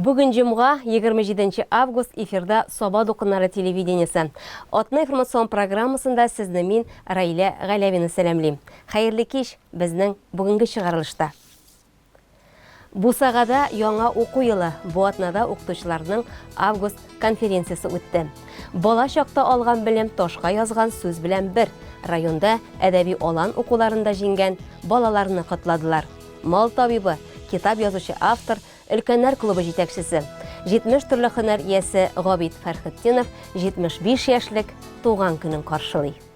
Бүген җомга 27 август эфирда Саба докуннары телевидениесе. Атны информацион программасында сезне мин Раилә Галявина сәламлим. Хәерле кич безнең бүгенге чыгарылышта. Бусагада яңа уку елы, бу атнада укытучыларның август конференциясе үтте. Бала чакта алган белем ташка язган сүз белән бер, районда әдәби алан укуларында җиңгән балаларны котладылар. Мал табибы, китап язучы автор, өлкәннәр клубы җитәкчесе, 70 төрле һөнәр иясе Габит Фәрхетдинов 75 яшьлек туган көнен каршылый.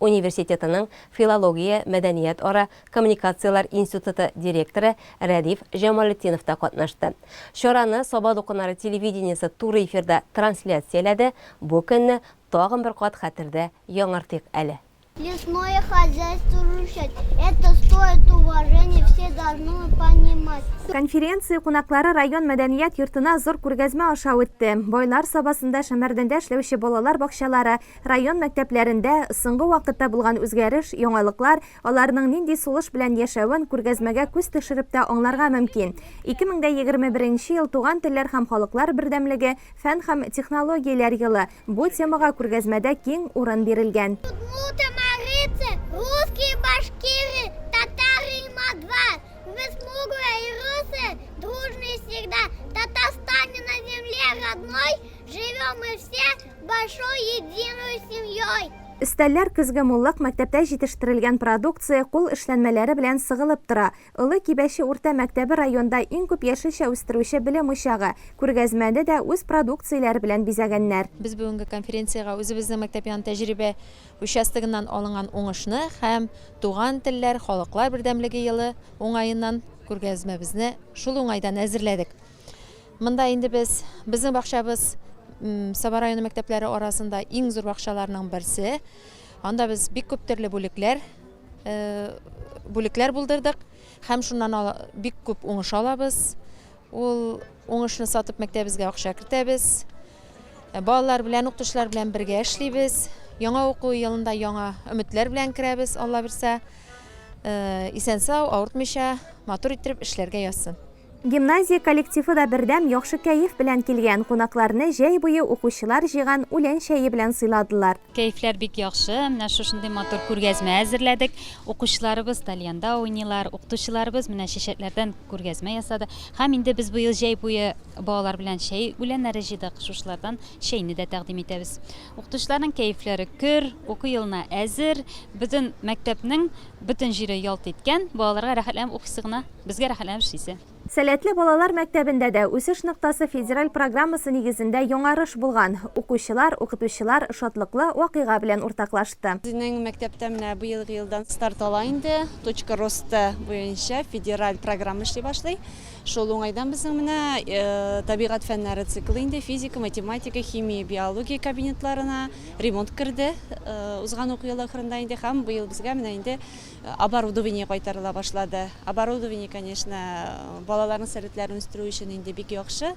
университетының филология, мәдәният ара, коммуникацияләр институты директоры Рәдиф Җамалетдинов та катнашты. Чараны Саба дулкыннары телевидениесе туры эфирда трансляцияләде, бу көнне тагын бер кат хәтердә яңартыйк әле. Лесное хозяйство рушать, это стоит уважения, все должны понимать. Конференция кунаклары район мәдәният йортына зур күргәзмә аша үтте. Байлар Сабасында Шәмәрдәндә эшләүче балалар бакчалары, Район мәктәпләрендә соңгы вакытта булган үзгәреш, яңалыклар, аларның нинди сулыш белән яшәвен күргәзмәгә күз төшереп тә аңларга мөмкин. 2021 беренче ел Туган телләр һәм халыклар бердәмлеге, фән һәм технологияләр елы, бу темага күргәзмәдә киң урын бирелгән. Удмурты, марийцы, русские, башкиры, татары и мордва, вы смуглые и русые, дружные всегда, Татарстане на земле родной, живем мы все, большой единой семьей. Өстәлләр көзге муллык, мәктәптә җитештерелгән продукция, кул эшләнмәләре белән сыгылып тора. Олы Кибәче урта мәктәбе районда иң күп яшелчә үстерүче белем учагы. Күргәзмәне дә үз продукцияләре белән бизәгәннәр. Без бүгенге конференциягә үзебезнең мәктәп яны тәҗрибә участогыннан алынган уңышны һәм Туган телләр, халыклар бердәмлеге елы уңаеннан күргәзмәбезне шул уңайдан әзерләдек. Монда инде без, безнең бакчабыз Саба районы мәктәпләре арасында иң зур бакчаларның берсе. Анда без бик күп төрле бүлекләр э, бүлекләр булдырдык һәм шуннан бик күп уңыш алабыз. Ул уңышны сатып мәктәбебезгә акча кертәбез. Э, балалар белән, укытучылар белән бергә эшлибез. Яңа уку елында яңа өметләр белән керәбез, Алла бирсә. Э, исән-сау, авыртмыйча, матур иттереп эшләргә язсын. Гимназия коллективы да бердәм яхшы кәеф белән килгән, кунакларны җәй буе укучылар җыйган үлән чәе белән сыйладылар. Кәефләр бик яхшы, менә шушындый матур күргәзмә әзерләдек. Укучыларыбыз тальянда уйныйлар, укытучыларыбыз менә чәчәкләрдән күргәзмә ясады. Һәм инде без быел җәй буе балалар белән чәй үләннәре җыйдык, шушылардан чәйне дә тәкъдим итәбез. Укытучыларның кәефләре көр, уку елына әзер, бөтен мәктәпнең Бөтен җире ялт иткән, балаларга рәхәтләнеп укыйсы гына, безгә рәхәтләнеп эшлисе. Сәләтле балалар мәктәбендә дә Үсеш ноктасы федераль программасы нигезендә яңарыш булган. Укучылар, укытучылар шатлыклы вакыйга белән уртаклашты. Безнең мәктәптә менә быелгы елдан старт ала инде, Точка роста буенча федераль программа эшли башлый. Шул уңайдан безнең менә табигать фәннәре циклы инде физика, математика, химия, биология кабинетларына ремонт керде узган уку елы ахырында инде һәм быел безгә менә инде оборудование кайтарыла башлады. Оборудование, конечно, балаларның сәләтләрен үстерү өчен инде бик яхшы.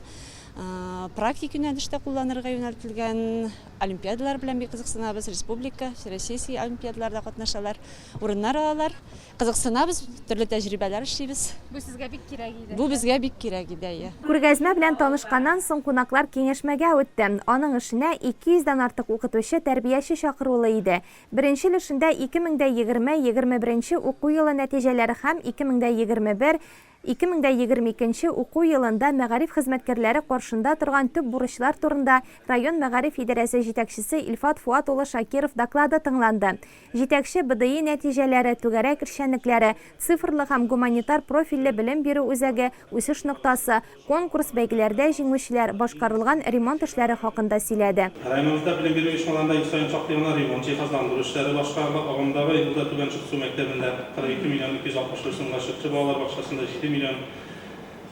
Практик юнәлештә кулланырга юнәлтелгән олимпиадалар белән бик кызыксынабыз, республика, всероссийский олимпиадаларда катнашалар, урыннар алалар. Кызыксынабыз, төрле тәҗрибәләр эшлибез. Бу сезгә бик кирәк иде. Бу безгә бик кирәк иде, әйе. Күргәзмә белән танышканнан соң кунаклар киңәшмәгә үтте. Аның эшенә 200 дән артык укытучы, тәрбияче чакырулы иде. Беренче өлешендә 2000 дә егерме, егерме беренче уку елы нәтиҗәләре һәм 2021 2022 нче уку елында мәгариф хезмәткәрләре каршында торган төп бурычлар турында район мәгариф идарәсе җитәкчесе Илфат Фуат улы Шакиров доклады тыңланды. Җитәкче БДИ нәтиҗәләре, түгәрәк эшчәнлекләре, цифрлы һәм гуманитар профильле белем бирү үзәге, үсеш ноктасы, конкурс, бәйгеләрдә җиңүчеләр, башкарылган ремонт эшләре хакында сөйләде. Районыбызда белем бирү оешмаларында ел саен шактый гына ремонт, җиһазландыру эшләре башкарыла. Агымдагы елда Түбән Чыксу мәктәбендә. 42 миллион 263 сумга Чырчы балалар бакчасында 7 миллион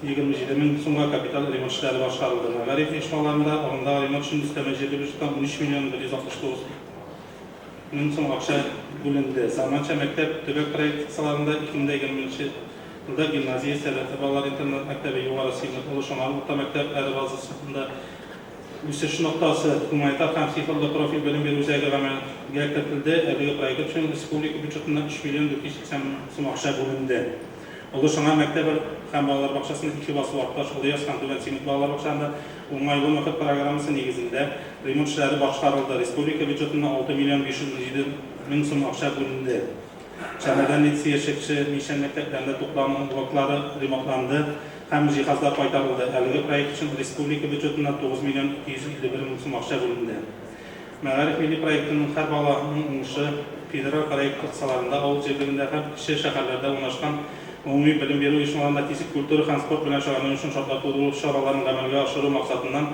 27 мең сумга капиталь ремонт эшләре башкарылды. Мәгариф оешмаларында агымдагы ремонт өчен өстәмә җирле бюджеттан 13 миллион 169 мең сум акча бүленде. Заманча мәктәп төбәк проекты кысаларында 2020 нче елда гимназия, Сәләтле балалар интернат-мәктәбе, Югары Симер, Олы Шомар урта мәктәп, Әре базасында, Үсеш ноктасы, гуманитар һәм цифрлы профиль белем бирү үзәге гамәлгә кертелде, әлеге проект өчен республика бюджетыннан 3 миллион 480 мең сум акча бүленде. Олы Шыңа мәктәбе һәм балалар бакчасында ике басу арта Олы Яз һәм Түбән Симет балалар бакчаларында уңайлы мохит программасы нигезендә ремонт эшләре башкарылды, республика бюджетыннан 6 миллион 517 мең сум акча бүленде. Шәһәрдә медсөяш чәкче, Мишән мәктәпләрендә туклану блоклары ремонтланды һәм җиһазлар кайтарылды. Әлеге проект өчен республика бюджетыннан 9 миллион 251 мең сум акча бүленде. Мәгариф милли проектының Һәр бала, ның уңышы федераль проект кысаларында авыл җирлегендә һәм кече шәһәрләрдә урнашкан гомуми белем бирү оешмаларында физик культура һәм спорт белән шөгыльләнү өчен шартлар тудыру чараларын гамәлгә ашыру максатыннан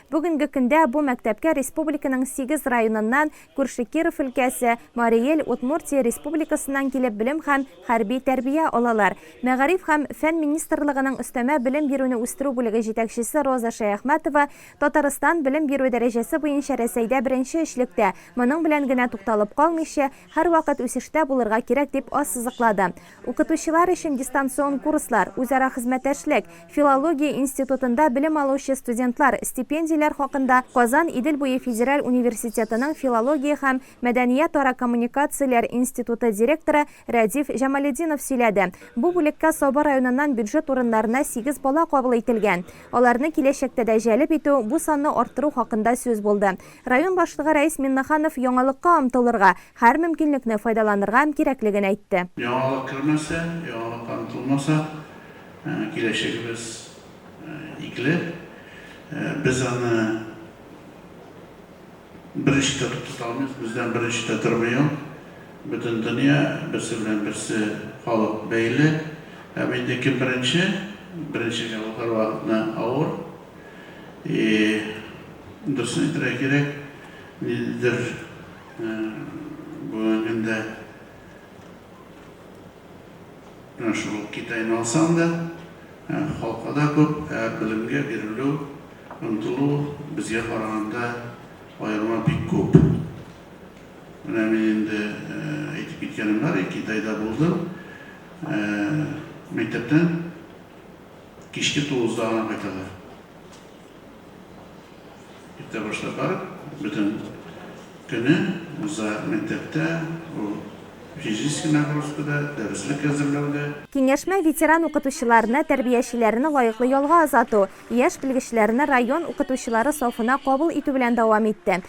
Бүгенге көндә бу мәктәпкә республиканың сигез районыннан, күрше Киров өлкәсе, Марий Эл, Удмуртия Республикасыннан килеп белем һәм хәрби тәрбия алалар. Мәгариф һәм фән министрлыгының өстәмә белем бирүне үстерү бүлеге җитәкчесе Роза Шәяхмәтова, Татарстан белем бирү дәрәҗәсе буенча Рәсәйдә беренче өчлектә, моның белән генә тукталып калмыйча, һәрвакыт үсештә булырга кирәк дип ассызыклады. Укытучылар өчен дистанцион курслар, үзара хезмәтәшлек, филология институтында белем алучы студентлар, стипендияләр хакында Казан Идел буе федераль университетының филология һәм мәдәниятара коммуникацияләр институты директоры Рәдиф Җамалетдинов сөйләде. Бу бүлеккә Саба районыннан бюджет урыннарына сигез бала кабул ителгән. Аларны киләчәктә дә җәлеп итү, бу санны арттыру хакында сүз булды. Район башлыгы Рәис Миннаханов яңалыкка омтылырга, һәр мөмкинлекне файдаланырга кирәклеген әйтте. Яңалык кермәсә, яңалыкка омтылмаса, киләчәгебез игле. Без аны беренче тә туктата алмыйбыз, бездән беренче дә тормый ул. Бөтен дөнья, берсе белән берсе халык бәйле. Һәм инде кем беренче, беренчегә ул һәрвакытны авыр. И дөресен әйтергә кирәк, ниндидер бүгенге көндә менә шул Китайны алсаң да, халкы да күп, ә белемгә бирелү, омтылу безгә караганда аерма бик күп. Менә мин инде әйтеп киткәнем бар, Китайда булдым, мәктәптән, Кичке тугызда гына кайталар. Иртә башлап барып, бөтен көне уза мәктәптә, ул физический нагрузкада, дәреслек әзерләүдә. Киңәшмә ветеран укытучыларны, тәрбиячеләрне лаеклы ялга озату, яшь белгечләрне район укытучылары сафына кабул итү белән дәвам итте.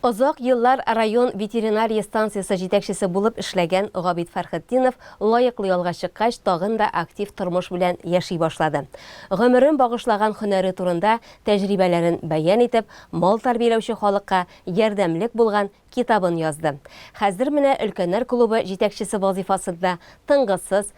Озак еллар район ветеринария станциясе җитәкчесе булып эшләгән Габит Фәрхетдинов лаеклы ялга чыккач, тагын да актив тормыш белән яши башлады. Гомерен багышлаган һөнәре турында тәҗрибәләрен бәян итеп, мал тәрбияләүче халыкка ярдәмлек булган китабын язды. Хәзер менә өлкәннәр клубы җитәкчесе вазыйфасында тынгысыз,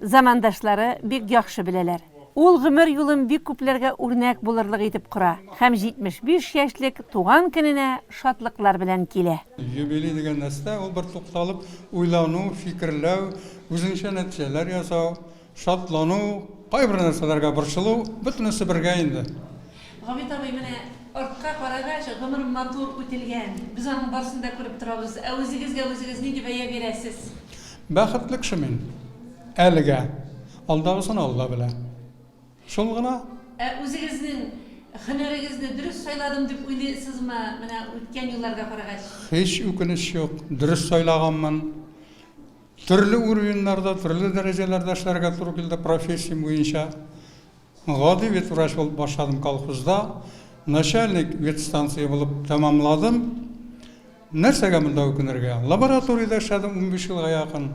замандашлары бик яхшы беләләр. Ул гомер юлын бик күпләргә үрнәк булырлык итеп кора һәм 75 яшьлек туган көненә шатлыклар белән килә. Юбилей дигән нәрсә, ул бер тукталып уйлану, фикерләү, үзеңчә нәтиҗәләр ясау, шатлану, кайбер нәрсәләргә борчылу, бөтенесе бергә инде. Габит абый, менә артка карагач, гомер матур үтелгән, без аның барысын да күреп торабыз. Ә үзегезгә үзегез нинди бәя бирәсез? Бәхетле кеше мин. Әлегә. Алдагысын Алла белә. Шул гына. Ә үзегезнең һөнәрегезне дөрес сайладым дип уйлыйсызмы, менә үткән елларга карагач? Һич үкенеч юк, дөрес сайлаганмын. Төрле уровеньнарда, төрле дәрәҗәләрдә эшләргә туры килде профессиям буенча. Гади ветврач булып башладым колхозда, начальник ветстанция булып тәмамладым. Нәрсәгә монда үкенергә? Лабораториядә эшләдем унбиш елга якын,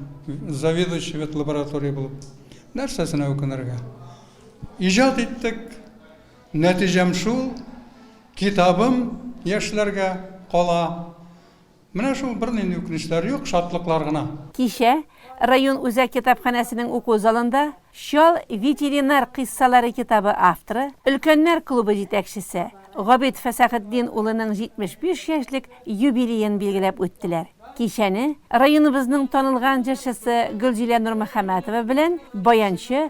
заведующий ветлаборатория булып. Нәрсәсенә үкенергә? Иҗат иттек, нәтиҗәм шул, китабым яшьләргә кала. Менә шул, бернинди үкенечләр юк, шатлыклар гына. Кичә район үзәк китапханәсенең уку залында Чал ветеринар кыйссалары китабы авторы, өлкәннәр клубы җитәкчесе Габит Фәсәхетдин улының 75 яшьлек юбилеен билгеләп үттеләр. Кичәне районыбызның танылган җырчысы Гөлзилә Нурмөхәмәтова белән баянчы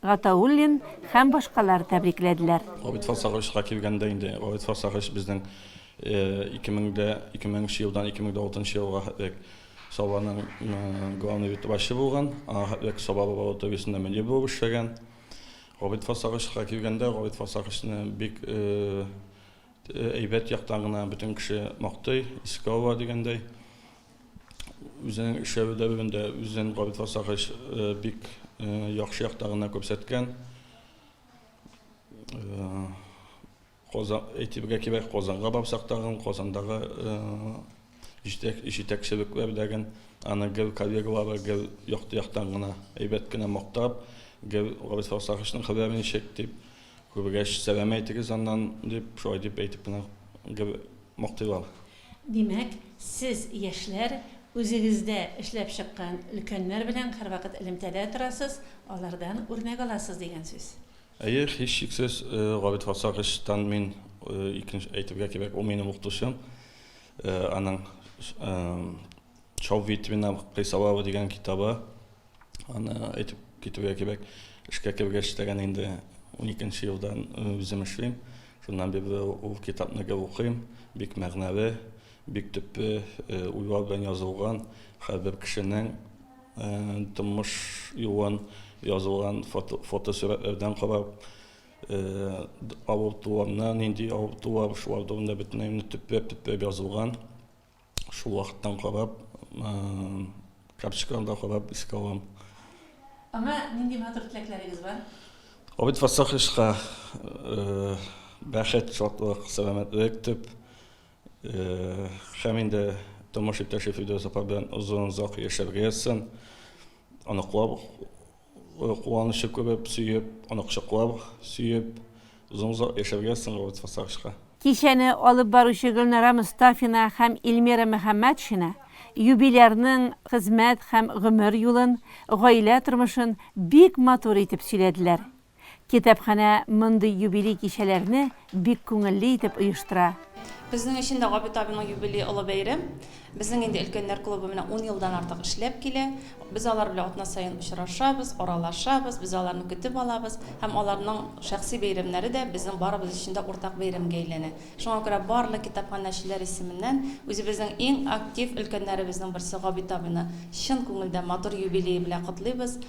Гатауллин һәм башкалар тәбрикләделәр. Габит Фарсагычка килгәндә инде, Габит Фарсагыч безнең 2000 нче елдан 2006 нчы елга хәтлек Сабаның главный ветврачы булган, аңа хәтлек Саба лабораториясендә мөдир булып эшләгән. Габит Фарсагычка килгәндә, Габит Фарсагычны бик әйбәт яктан гына бөтен кеше мактый, искә ала дигәндәй. Үзенең эшләве дәверендә үзен Габит Фасахович бик яхшы якта гына күрсәткән. Казан әйтергә кирәк, Казанга барсак тагын, Казандагы җитәкчелекләр дәген аны гел коллегалары гел якты яктан гына, әйбәт кенә мактап, гел Габит Фасаховичның хәбәре ничек дип, күргәч, сәлам әйтегез аннан, дип, шулай дип әйтеп кенә гел мактыйлар. Димәк, сез, яшьләр, үзегездә эшләп чыккан өлкәннәр белән һәрвакыт элемтәдә торасыз, алардан үрнәк аласыз дигән сүз. Әйе, һичшиксез, Габит Фарсагычтан мин икенче, әйтергә кирәк, ул минем укытучым. Аның Чаввитвина кыйссалары дигән китабы. Аны әйтеп китүгә кебек, эшкә кергәч тәгән инде 12 елдан үзем эшлим. Шуннан бирле ул китапны гел укыйм. Бик мәгънәле, бик төпле уйлар белән язылган, һәрбер кешенең тормыш юлын язылган фотосурәтләрдән карап, авыртуларны, нинди авыртулар, шулар турында бөтенләй төпләп-төпләп язылган. Шул вакыттан карап, карточкаларда карап искә алам. Аңа нинди матур теләкләрегез бар? Авыт фасахышка бәхет, шатлык, сәламәтлек дип, һәм инде тормыш иптәше Фидүс апа белән озын-озак яшәргә язсын. Оныклар Куанычы күреп, сөеп, аны кочаклап, сөеп, озын-озак яшәргә, становиться старшка. Кичәне алып баручы Гөлнара Мостафина һәм Ильмира Мөхәммәтшина юбилярның хезмәт һәм гомер юлын, гаилә тормышын бик матур итеп сөйләделәр. Китапханә мондый юбилей кичәләрне бик күңелле итеп оештыра. Безнең өчен дә Габит абиның юбилее олы бәйрәм. Безнең инде өлкәннәр клубы менә ун елдан артык эшләп килә. Без алар белән атна саен очрашабыз, аралашабыз, без аларны көтеп алабыз. Һәм аларның шәхси бәйрәмнәре дә безнең барыбыз өчен дә уртак бәйрәмгә әйләнә. Шуңа күрә барлык китапханәчеләр исеменнән үзебезнең иң актив өлкәннәребезнең берсе Габит абыйны чын күңелдән матур юбилее белән котлыйбыз.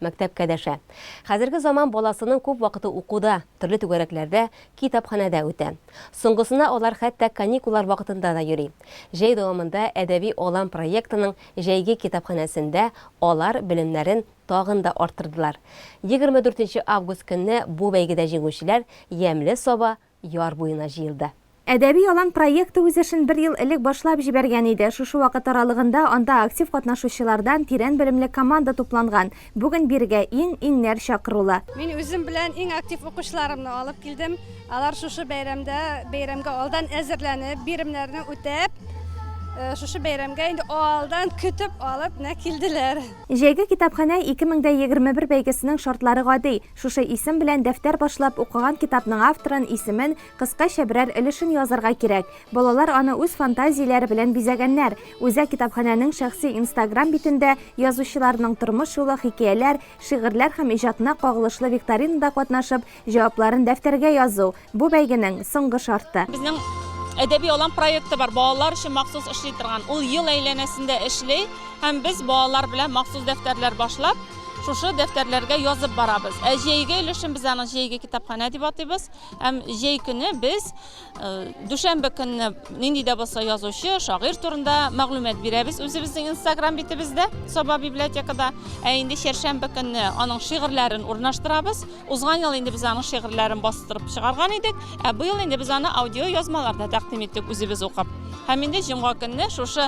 Мәктәпкә дәшә. Хәзерге заман баласының күп вакыты укуда, төрле түгәрәкләрдә, китапханәдә үтә. Соңгысына алар хәтта каникуллар вакытында да йөри. Җәй дәвамында Әдәби алан проектының җәйге китапханәсендә алар белемнәрен тагын да арттырдылар. Егерме дүртенче август көнне бу бәйгедә җиңүчеләр Ямьле Саба яр буена җыелды. Әдәби алан проекты үз эшен бер ел элек башлап җибәргән иде. Шушы вакыт аралыгында анда актив катнашучылардан тирән белемле команда тупланган. Бүген бирегә иң, иңнәр чакырулы. Мин үзем белән иң актив укучыларымны алып килдем. Алар шушы бәйрәмдә, бәйрәмгә алдан әзерләнеп, биремнәрне үтәп, шушы бәйрәмгә инде алдан көтеп алып менә килделәр. Җәйге китапханә 2021 бәйгесенең шартлары гади. Шушы исем белән дәфтәр башлап укыган китапның авторын, исемен, кыскача берәр өлешен язарга кирәк. Балалар аны үз фантазияләре белән бизәгәннәр. Үзәк китапханәнең шәхси инстаграм битендә язучыларның тормыш юлы, хикәяләр, шигырьләр һәм иҗатына кагылышлы викторинада катнашып, җавапларын дәфтәргә язу, Бу бәйгенең соңгы шарты. Безнең әдәби алан проекты бар, балалар өчен махсус эшли торган. Ул ел әйләнәсендә эшли һәм без балалар белән махсус дәфтәрләр башлап, шушы дәфтәрләргә язып барабыз. Ә җәйге өлешен без аны җәйге китапханә дип атыйбыз. Һәм җәй көне без дүшәмбе көнне нинди дә булса язучы, шагыйрь турында мәгълүмат бирәбез үзебезнең Instagram битебездә, Саба библиотекада. Ә инде чәршәмбе көнне аның шигырьләрен урнаштырабыз. Узган ел инде без аның шигырьләрен бастырып чыгарган идек, ә быел инде без аны аудиоязмаларда тәкъдим иттек, үзебез укып. Һәм инде җомга көнне шушы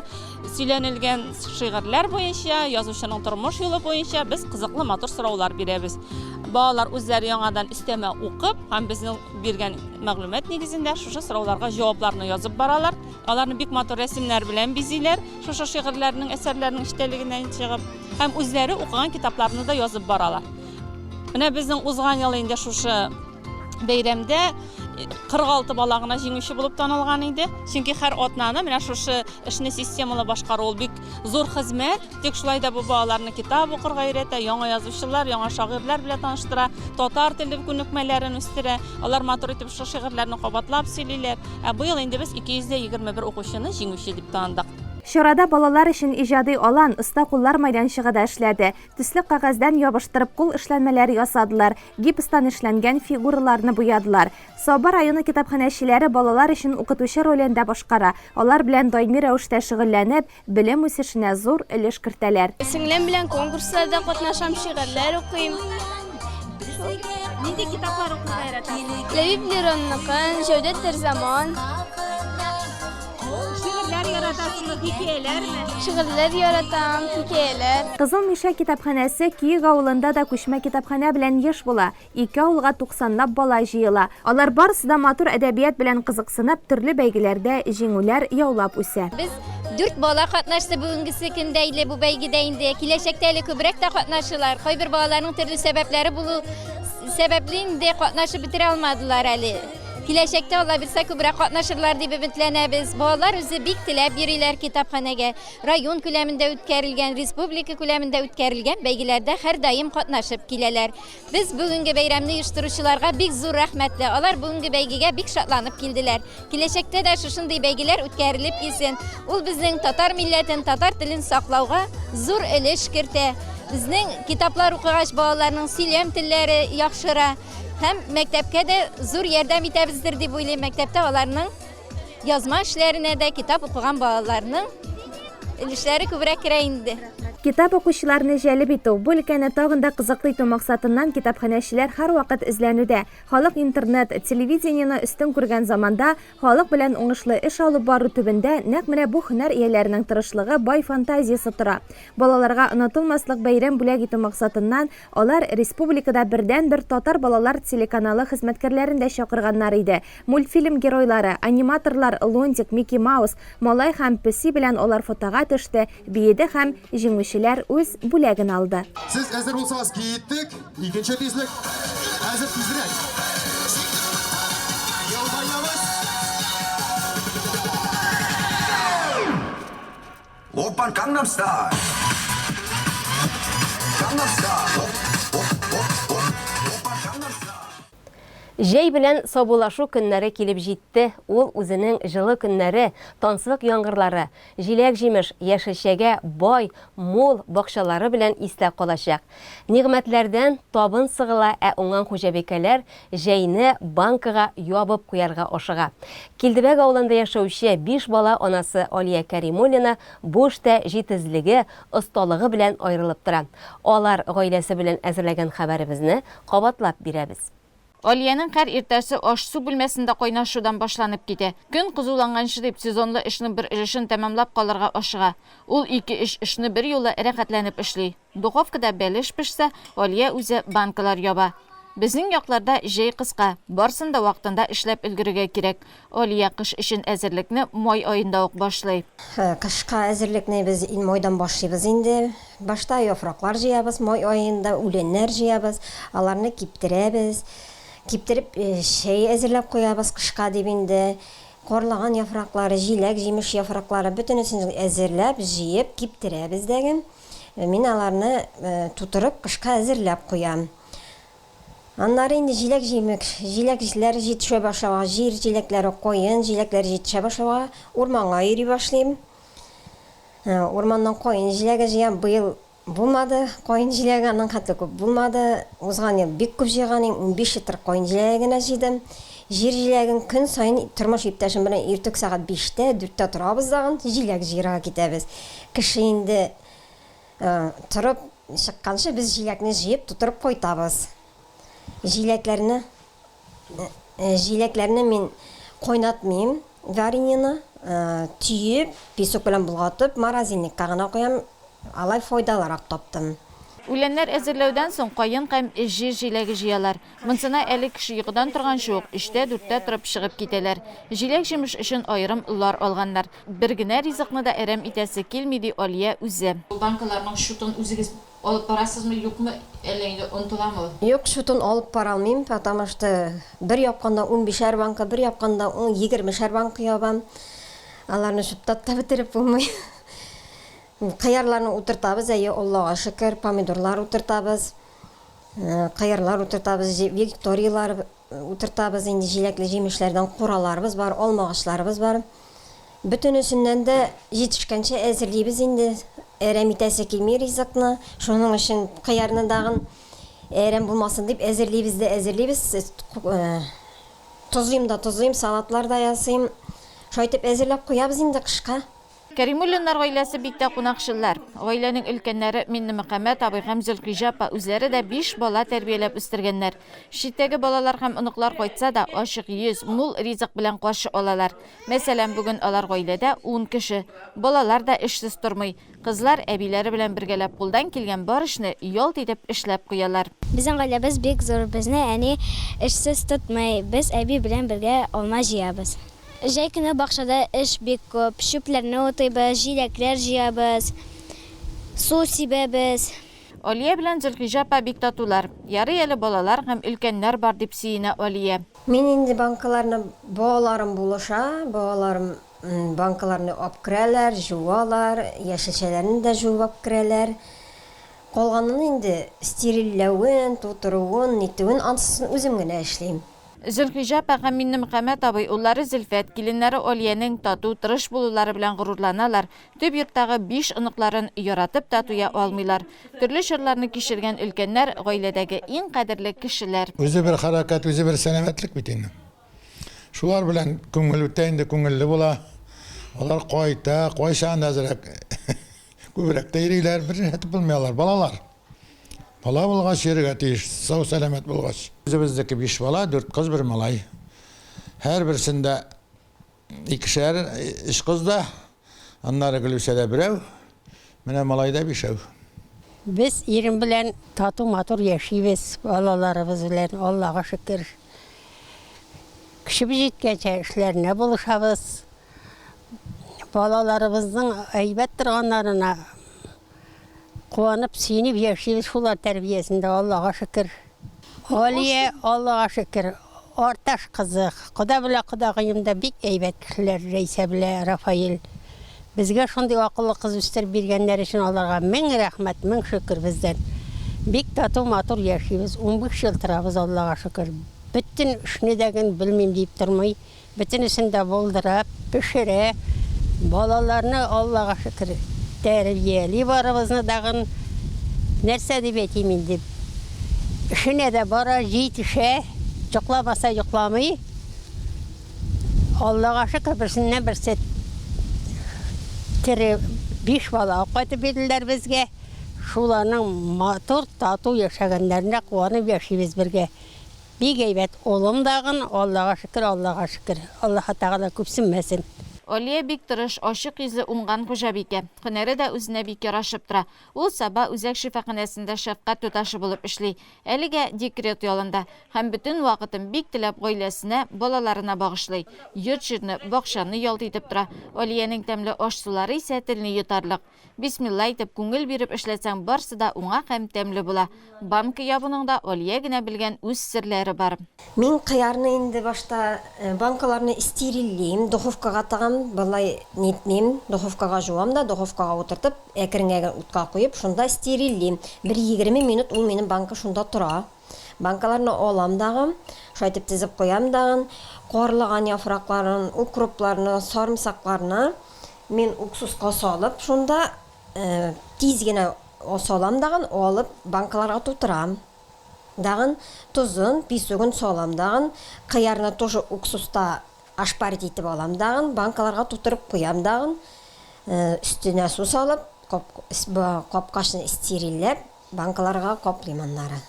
сөйләнелгән шигырьләр буенча, язучының тормыш юлы буенча без кызыклы матур сораулар бирәбез. Балалар үзләре яңадан өстәмә укып һәм безнең биргән мәгълүмат нигезендә шушы сорауларга җавапларны язып баралар. Аларны бик матур рәсемнәр белән бизиләр, шушы шигырьләрнең, әсәрләрнең эчтәлегеннән чыгып, һәм үзләре укыган китапларны да язып баралар. Менә безнең узган ел инде шушы бәйрәмдә 46 бала гына җиңүче булып танылган иде. Чөнки һәр атнаны менә шушы эшне системалы башкару ул бик зур хезмәт. Тик шулай да бу балаларны китап укырга өйрәтә, яңа язучылар, яңа шагыйрьләр белән таныштыра, татар теле күнекмәләрен үстерә. Алар матур итеп шушы шигырьләрне кабатлап сөйлиләр. Ә быел инде без 221 укучыны җиңүче дип таныдык. Чарада балалар өчен иҗади алан, оста куллар мәйданчыгы да эшләде. Төсле кәгазьдән ябыштырып кул эшләнмәләре ясадылар, гипстан эшләнгән фигураларны буядылар. Саба районы китапханәчеләре балалар өчен укытучы ролен дә башкара, алар белән даими рәвештә шөгыльләнеп, белем үсешенә зур өлеш кертәләр. Сеңлем белән конкурсларда катнашам, шигырьләр укыйм. Шул. Нинди китаплар укырга яратасың? Ләбиб Леронныкын, Җәүдәт Дәрзаман. Шигырьләр яратасыңмы, хикәяләрме? Шигырьләр яратам, хикәяләр. Кызыл Мишә китапханәсе Киек авылында да күчмә китапханә белән еш була. Ике авылга туксанлап бала җыела. Алар барысы да матур әдәбият белән кызыксынып, төрле бәйгеләрдә җиңүләр яулап үсә. Без дүрт бала катнашты бүгенгесе көндә иле бу бәйгедә инде. Киләчәктә әле күбрәк тә катнашырлар. Кайбер балаларның төрле сәбәпләре булу сәбәпле инде катнашып бетерә алмадылар әле. Киләчәктә, Алла бирсә, күбрәк катнашырлар дип өметләнәбез. Балалар үзе бик теләп йөриләр китапханәгә. Район күләмендә үткәрелгән, республика күләмендә үткәрелгән бәйгеләрдә һәрдаим катнашып киләләр. Без бүгенге бәйрәмне оештыручыларга бик зур рәхмәтле. Алар бүгенге бәйгегә бик шатланып килделәр. Киләчәктә дә шушындый бәйгеләр үткәрелеп килсен. Ул безнең татар милләтен, татар телен саклауга зур өлеш кертә. Безнең китаплар укыгач, балаларның сөйләм телләре яхшыра. Һәм мәктәпкә дә зур ярдәм итәбездер дип уйлыйм. Мәктәптә аларның язма эшләренә дә китап укыган балаларның өлешләре күбрәк керә инде. Китап укучыларны җәлеп итү, бу өлкәне тагын да кызыклы итү максатыннан китапханәчеләр һәрвакыт эзләнүдә. Халык интернет, телевидениене өстен күргән заманда, халык белән уңышлы эш алып бару төбендә нәкъ менә бу һөнәр ияләренең тырышлыгы, бай фантазиясе тора. Балаларга онытылмаслык бәйрәм бүләк итү максатыннан, Алар республикада бердәнбер татар балалар телеканалы хезмәткәрләрен дә чакырганнар иде. Мультфильм геройлары, аниматорлар Лунтик, Микки Маус, Малай һәм Песи белән алар фотога төште, биеде һәм җиңүчеләр үз бүләген алды. Сез әзер булсагыз, киттек! Икенче тизлек! Хәзер тизрәк! Елмаябыз! Оппан Gangnam Style. Gangnam Style. Оп, оп, оп, оп. Оппан Gangnam Style. Җәй белән саубуллашу көннәре килеп җитте, ул үзенең җылы көннәре, танслык яңгырлары, җиләк-җимеш, яшелчәгә бай, мул бакчалары белән истә калачак. Нигъмәтләрдән табын сыгыла, ә уңган хуҗабикәләр Җәйне банкага ябып куярга ашыга. Килдебәк авылында яшәүче биш бала анасы Алия Кәримуллина бу эштә җитезлеге, осталыгы белән аерылып тора. Алар гаиләсе белән әзерләгән хәбәребезне кабатлап бирәбез. Алиянең һәр иртәсе аш-су бүлмәсендә кайнашудан башланып китә. Көн кызуланганчы дип, сезонлы эшнең бер өлешен тәмамлап калырга ашыга. Ул ике-өч эшне берьюлы рәхәтләнеп эшли. Духовкада бәлеш пешсә, Алия үзе банкалар яба. Безнең якларда җәй кыска, барсын да вакытында эшләп өлгерергә кирәк. Алия кыш өчен әзерлекне май аенда ук башлый. Кышка әзерлекне без майдан башлыйбыз инде. Башта яфраклар җыябыз, май аенда үләннәр җыябыз, аларны киптерәбез. Киптереп, чәй әзерләп куябыз кышка дип инде. Карлыган яфраклары, җиләк-җимеш яфраклары, бөтенесен әзерләп, җыеп киптерәбез дәге. Мин аларны тутырып, кышка әзерләп куям. Аннары инде җиләк-җимеш, җиләкләр җитешә башлауга, җир җиләкләре, каен җиләкләре җитешә башлауга, урманга йөри башлыйм. Урманнан каен җиләге җыям. Быел булмады, каен җиләге аның хәтле күп булмады. Узган ел бик күп җыйган идем, унбиш литр каен җиләге генә җыйдым. Җир җиләген көн саен тормыш иптәшем белән иртүк сәгать биштә, дүрттә торабыз дагын, җиләк җыярга китәбез. Кеше инде торып чыкканчы без җиләкне җыеп тутырып кайтабыз. Җиләкләрне җиләкләрне мин кайнатмыйм, вареньены төеп, песок белән болгатып морозильникка гына куям, алай файдалырак таптым. Үләннәр әзерләүдән соң каен һәм җир җиләге җыялар. Монсына әле кеше йокыдан торганчы ук, өчтә, дүрттә торып чыгып китәләр. Җиләк-җимеш өчен аерым лар алганнар. Бер генә ризыкны да әрәм итәсе килми, ди Алия үзе. Банкаларның счетын үзегез алып барасызмы, юкмы, әллә инде онытыламы? Юк, счетын алып бара алмыйм, потому что бер япканда унбишәр банка, бер япканда егермешәр банка ябам. Аларны чуптап та бетереп булмый. Кыярларны утыртабыз, әйе, Аллага шөкер, помидорлар утыртабыз. Кыярлар утыртабыз, викториялар утыртабыз, инде җиләкле җимешләрдән кураларыбыз бар, алма агачларыбыз бар. Бөтенесеннән дә җитешкәнчә әзерлибез инде. Әрәм итәсе килми ризыкны. Шуның өчен кыярны дагын әрәм булмасын дип әзерлибез дә әзерлибез. Тозыйм да тозыйм, салатлар да ясыйм. Шулай итеп әзерләп куябыз инде кышка. Кәримуллиннар гаиләсе бик тә кунакчыллар. Гаиләнең өлкәннәре Миннемөхәммәт абый һәм Зөлхиҗә апа үзләре дә биш бала тәрбияләп үстергәннәр. Читтәге балалар һәм оныклар кайтса да, ачык йөз, мул ризык белән каршы алалар. Мәсәлән, бүген алар гаиләдә ун кеше. Балалар да эшсез тормый. Кызлар, әбиләре белән бергәләп кулдан килгән бар эшне ялт итеп эшләп куялар. Безнең гаиләбез бик зур, безне әни эшсез тотмый, без әби белән бергә алма җыябыз. Җәй көне бакчада эш бик күп. Чүпләрне утыйбыз, җиләкләр җыябыз, су сибәбез. Алия белән Зөлхиҗә апа бик татулар. Ярый әле балалар һәм өлкәннәр бар, дип сөенә Алия. Мин инде банкаларны балаларым булыша. Балаларым банкаларны апкерәләр, җуалар, яшелчәләрне дә җуып апкерәләр. Калганын инде, стерильләвен, тутыруын, нитүен, ансын үзем генә эшлим. Зөлхиҗап ага, Миннемөхәммәт абый, уллары Зөлфәт, киленнәре Алиянең тату, тырыш булулары белән горурланалар, төп йорттагы биш оныкларын яратып та туя алмыйлар. Төрле чорларны кичергән өлкәннәр, гаиләдәге иң кадерле кешеләр. Үзе бер хәрәкәт, үзе бер сәламәтлек бит инде. Шулар белән күңел үтә инде, күңелле була. Алар кайта, кайчан әзрәк, күбрәк тә йөриләр, бер җиһәте булмый алар, балалар. Бала булгач, йөрергә тиеш, сау-сәламәт булгач. Үзебезнеке биш бала, дүрт кыз, бер малай. Һәрберсендә икешәр, өч кыз да, аннары Гөлүсәдә берәү, менә малайда бишәү. Без ирем белән тату-матур яшибез, балаларыбыз белән, Аллага шөкер. Көчебез җиткәнчә эшләренә булышабыз. Балаларыбызның әйбәт торганнарына Куанып, сөенеп яшибез шул ар тәрбиясендә, Аллага шөкер. Галия, Аллага шөкер, Арташ кызы. Кода белә кодагыем да бик әйбәт кешеләр, Рәйсә белә Рафаэль. Безгә шундый акыллы кыз үстереп биргәннәр өчен аларга мең рәхмәт, мең шөкер бездән. Бик тату, матур яшибез, унбиш ел торабыз, Аллага шөкер. Бөтен эшне дә гел белмим диеп тормый, Бөтенесен дә булдырып пешерә. Балаларны, Аллага шөкер, тәрбияли барыбызны дагын. Нәрсә дип әйтим инде. Эшенә дә бара, җитешә. Йокламаса йокламый. Аллага шөкер, берсеннән-берсе тере биш бала кайтып бирделәр безгә. Шуларның матур, тату яшәгәннәренә куанып яшибез бергә. Бик әйбәт, улым дагын, Аллага шөкер, Аллага шөкер. Аллаһы Тәгалә күпсенмәсен. Алия бик тырыш, ачык йөзле уңган хуҗабикә. Һөнәре дә үзенә бик ярашып тора. Ул Саба үзәк шифаханәсендә шәфкать туташы булып эшли. Әлегә декрет ялында. Һәм бөтен вакытын бик теләп гаиләсенә, балаларына багышлый. Йорт-җирне, бакчаны ялт итеп тора. Алиянең тәмле аш-сулары исә телне йотарлык. Бисмилла әйтеп, күңел биреп эшләсәң, барсы да уңак һәм тәмле була. Банка ябуның да Алия генә белгән үз серләре бар. Мин кыярны инде башта банкаларны стерильлим, духовкага тыгам, болай нитмим, духовкага җуам да, духовкага утыртып, әкрен генә утка куеп, шунда стерильлим. Бер егерме минут ул минем банка шунда тора. Банкаларны алам дагы, шулай итеп тезеп куям дагы. Карлыган яфракларын, укропларны, сарымсакларны мин уксуска салып, шунда тиз генә салам дагы, алып банкаларга тутырам дагы. Тозын, песогын салам дагы. Кыярны тоже уксуста ошпарить итеп алам дагы, банкаларга тутырып куям дагы. Өстенә су салып, капкачны стерильләп. Банкаларга кап лимоннары.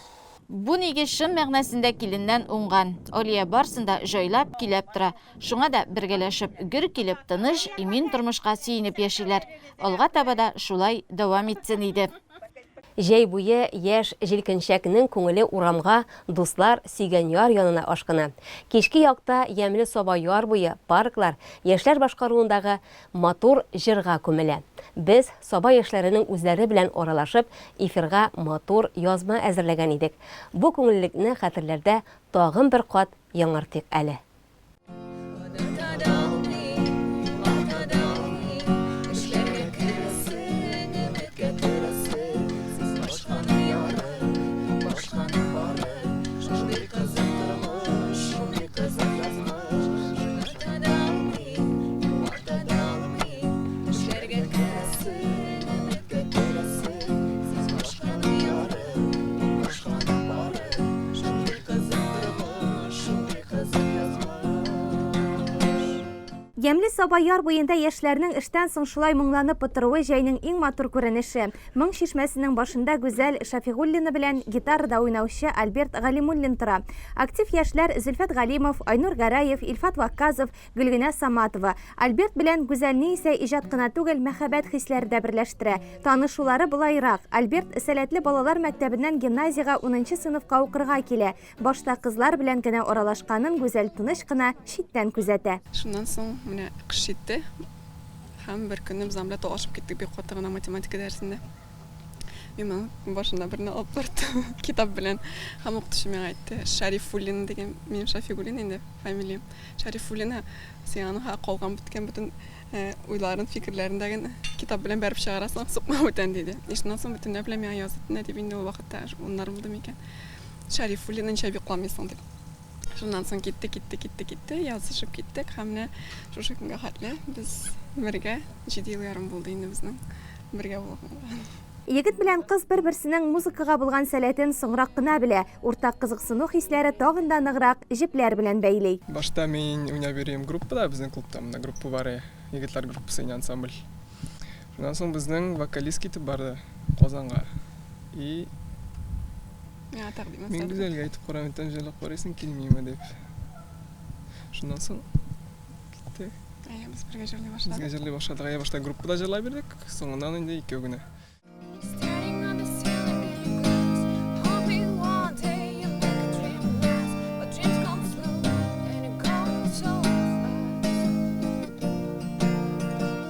Бу нигез чын мәгънәсендә киленнән уңган. Алия барсын да җайлап, көйләп тора. Шуңа да бергәләшеп, гөр килеп, тыныч, имин тормышка сөенеп яшиләр. Алга таба да шулай дәвам итсен иде. Җәй буе яшь җилкенчәкнең күңеле урамга, дуслар, сөйгән яр янына ашкына. Кичке якта ямьле саба яр буе, парклар, яшьләр башкаруындагы Матур җырга күмелә. Без, Саба яшьләренең үзләре белән аралашып, эфирга матур язма әзерләгән идек. Бу күңеллелекне хәтерләрдә тагын бер кат яңартыйк әле. Ямле саба яр буенда яшьләрнең эштән соң шулай моңланып утыруы җәйнең иң матур күренеше. Моң чишмәсенең башында Гүзәл Шафигуллина белән гитарада уйнаучы Альберт Галимуллин тора. Актив яшьләр Зөлфәт Галимов, Айнур Гәрәев, Илфат Вакказов, Гөлгенә Саматова. Альберт белән Гүзәлне исә иҗат кына түгел, мәхәббәт хисләре дә берләштерә. Танышулары болайрак, Альберт Сәләтле балалар мәктәбеннән гимназиягә унынчы сыйныфка укырга килә. Башта кызлар белән генә аралашканын Гүзәл тыныч кына, читтән күзәтә. Шуннан соң менә кыш җитте һәм беркөнне без аның белән талашып киттек бик каты гына математика дәресендә. Мин аның башына берне алып бардым, китап белән. Һәм укытучы миңа әйтте, Шарифуллин дигән, минем Шафигуллин инде фамилиям. Шарифуллина, син аның калган беткән бөтен э, уйларын, фикерләрен дә генә китап белән бәреп чыгарасың, сукма бүтән диде. И шуннан соң бөтенләй белән миңа язып, нә дип инде ул вакытта, уннар булды микән? Шарифуллина ничә бик куламыйсың дип. Шуннан соң китте, китте, китте, китте, язышып киттек һәм менә шушы көнгә хәтле без бергә 7 ел ярым булды инде безнең бергә булганга. Егет белән кыз бер-берсенең музыкага булган сәләтен соңрак кына белә, уртак кызыксыну хисләре тагын да ныграк җепләр белән бәйли. Башта мин уйнап йөрим группада, безнең клубта монда группа бар, егетләр группасы иде, ансамбль. Шуннан соң безнең вокалист китеп барды Казанга. И Миңа тәкъдим ясады. Мингүзәлгә әйтеп карам, тәм җырлап карыйсың килмиме дип. Шуннан соң китте. Әйе, без бергә җырлый башладык. Безгә җырлый башладык. Әйе, башта группада җырлап бирдек, соңыннан инде икәү генә.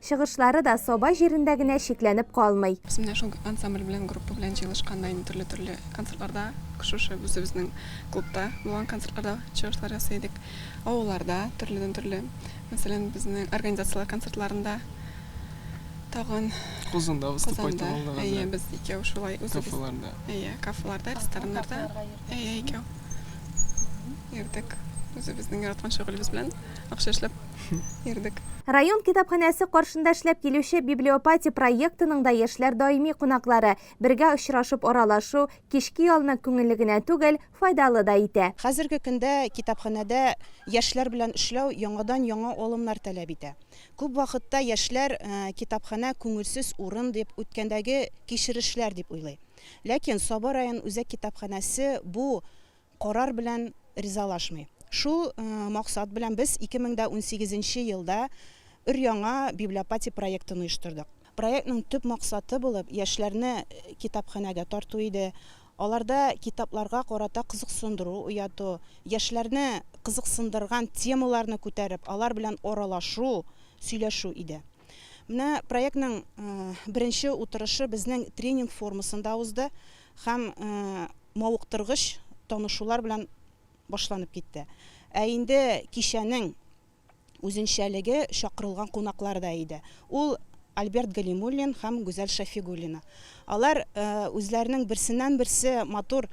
Чыгышлары да Саба җирендә генә чикләнеп калмый. Без менә шул ансамбль белән, группа белән җыелышканда инде төрле-төрле концертларда, шушы үзебезнең клубта булган концертларда чыгышлар ясый идек. Авылларда төрледән-төрле, мәсәлән, безнең организацияләр концертларында, тагын. Казанда выступать итеп алдыгыз, әйе. Казанда, әйе, без икәү шулай үзебез. Кафеларда. Әйе, кафеларда, рестораннарда. Кафеларга йөрдек. Әйе, икәү. Йөрдек. Үзебезнең яраткан шөгылебез белән акча эшләп. йөрдек. Район китапханәсе каршында эшләп килүче Библиопати проектының да яшьләр даими кунаклары, бергә очрашып аралашу, кичке ялны күңелле генә түгел, файдалы да итә. Хәзерге көндә китапханәдә яшьләр белән эшләү яңадан-яңа алымнар таләп итә. Күп вакытта яшьләр китапханә күңелсез урын дип, үткәндәге кичерешләр дип уйлый. Ләкин Сабы район үзәк китапханәсе бу карар белән ризалашмый. Шул максат белән без 2018 нче елда өр-яңа Библиопати проектын оештырдык. Проектның төп максаты булып яшьләрне китапханәгә тарту иде, аларда китапларга карата кызыксындыру уяту, яшьләрне кызыксындырган темаларны күтәреп, алар белән аралашу, сөйләшү иде. Менә проектның беренче утырышы безнең тренинг формасында узды. Һәм мавыктыргыч танышулар белән башланып китте. Ә инде кичәнең үзенчәлеге чакырылган кунаклар да иде. Ул, Альберт Галимуллин һәм Гүзәл Шәфигуллина. Алар үзләренең берсеннән-берсе матур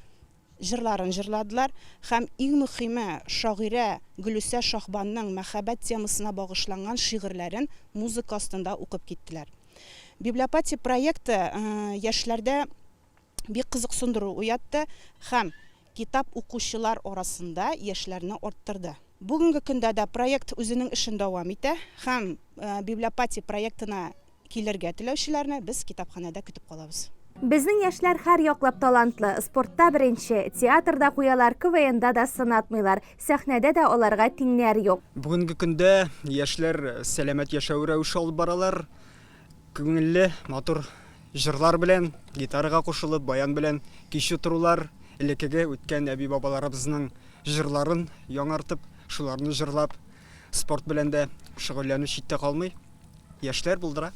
җырларын җырладылар һәм, иң мөхиме, шагыйрә Гөлүсә Шаһбанның мәхәббәт темасына багышланган шигырьләрен музыка астында укып киттеләр. Библиопатия проекты яшьләрдә бик кызыксындыру уятты һәм китап укучылар арасында яшьләрне арттырды. Бүгенге көндә дә проект үзенең эшен дәвам итә һәм Библиопатия проектына килергә теләүчеләрне без китапханәдә көтеп калабыз. Безнең яшьләр һәр яклап талантлы, спортта беренче, театрда куялар, КВНда да сынатмыйлар. Сәхнәдә дә аларга тиңнәр юк. Бүгенге көндә яшьләр сәламәт яшәү рәвеше алып баралар. Күңелле, матур җырлар белән, гитарага кушылып, баян белән кич утырулар, элеккеге үткән әби-бабаларыбызның җырларын яңартып, шуларны җырлап, спорт белән дә шөгыльләнү читтә калмый. Яшьләр булдыра.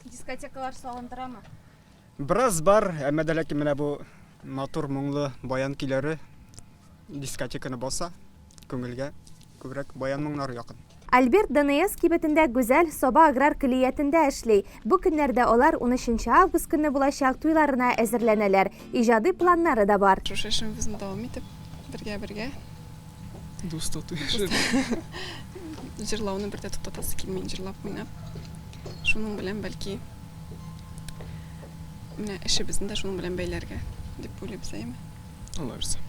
Дискотекалар салындырамы? Бераз бар, әмма дә ләкин менә бу матур моңлы баян көйләре дискотеканы баса, күңелгә күбрәк баян моңнары якын. Альберт ДНС кибетендә Гүзәл Саба аграр көллиятендә эшли. Бу көннәрдә алар унөченче август көнне булачак туйларына әзерләнәләр, иҗади планнары да бар. Шушы эшебезне дәвам итеп, бергә-бергә. Дус тату-яшәп. Җырлауны бер дә туктатасы килми, җырлап-уйнап. Шуның белән, бәлки, Менә эшебезне дә шуның белән бәйләргә дип уйлыйбыз, әйеме? Алла бирса.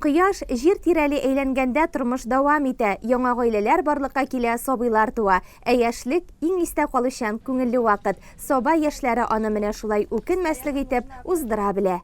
Кояш, Җир тирәли әйләнгәндә тормыш дәвам итә, яңа гаиләләр барлыкка килә, сабыйлар туа. Ә яшьлек, иң истә калучан, күңелле вакыт. Саба яшьләре аны менә шулай үкенмәслек итеп уздыра белә.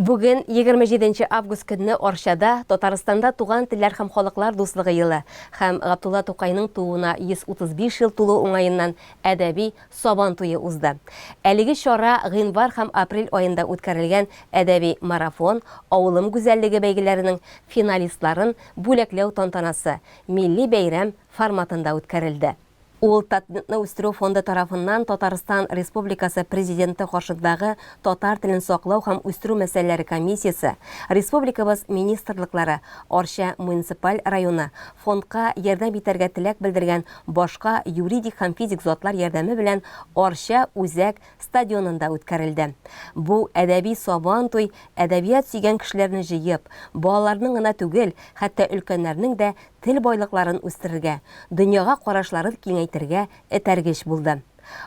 Бүген, егерме җиденче август көнне Арчада Татарстанда Туган телләр һәм халыклар дуслыгы елы һәм Габдулла Тукайның тууына 135 ел тулу уңаеннан әдәби Сабан туе узды. Әлеге чара гыйнвар һәм апрель аенда үткәрелгән әдәби марафон, Авылым гүзәллеге бәйгеләренең финалистларын бүләкләү тантанасы милли бәйрәм форматында үткәрелде. Ул Татнетны үстерү фонды тарафыннан Татарстан Республикасы Президенты каршындагы Татар телен саклау һәм үстерү мәсьәләләре комиссиясе, республикабыз министрлыклары, Арча муниципаль районы, фондка ярдәм итәргә теләк белдергән башка юридик һәм физик затлар ярдәме белән Арча үзәк стадионында үткәрелде. Бу әдәби Сабантуй әдәбият сөйгән кешеләрне җыеп, балаларның гына түгел, хәтта өлкәннәрнең дә тел байлыкларын үстерергә, дөньяга карашларын киңәйтергә этәргеч булды.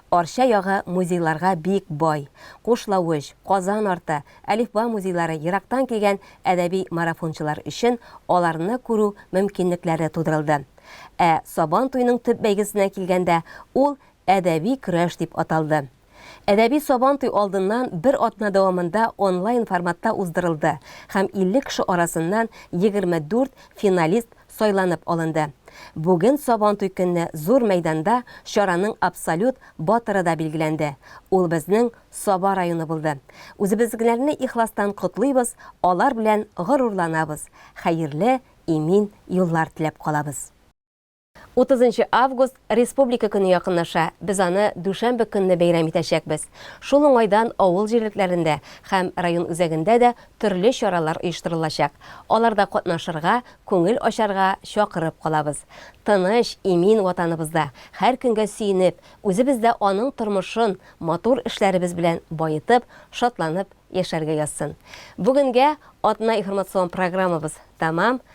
Арча ягы музейларга бик бай. Кушлавыч, Казан арты, Әлифба музейлары ерактан килгән әдәби марафончылар өчен аларны күрү мөмкинлекләре тудырылды. Ә Сабан туеның төп бәйгесенә килгәндә, ул Әдәби көрәш дип аталды. Әдәби Сабантуй алдыннан бер атна дәвамында онлайн форматта уздырылды һәм 50 кеше арасыннан 24 финалист сайланып алынды. Бүген Сабантуй көнне зур мәйданда чараның абсолют батыры да билгеләнде. Ул безнең Саба районы булды. Үзебезгеләрне ихластан котлыйбыз, алар белән горурланабыз, хәерле, имин юллар теләп калабыз. Утызынчы август, Республика көне якынлаша, без аны дүшәмбе көнне бәйрәм итәчәкбез. Шул уңайдан авыл җирлекләрендә һәм район үзәгендә дә төрле чаралар оештырылачак. Аларда катнашырга, күңел ачарга чакырып калабыз. Тыныч, имин Ватаныбызда, һәр көнгә сөенеп, үзебездә аның тормышын матур эшләребез белән баетып, шатланып яшәргә язсын. Бүгенгә Атна-иформацион программабыз тәмам,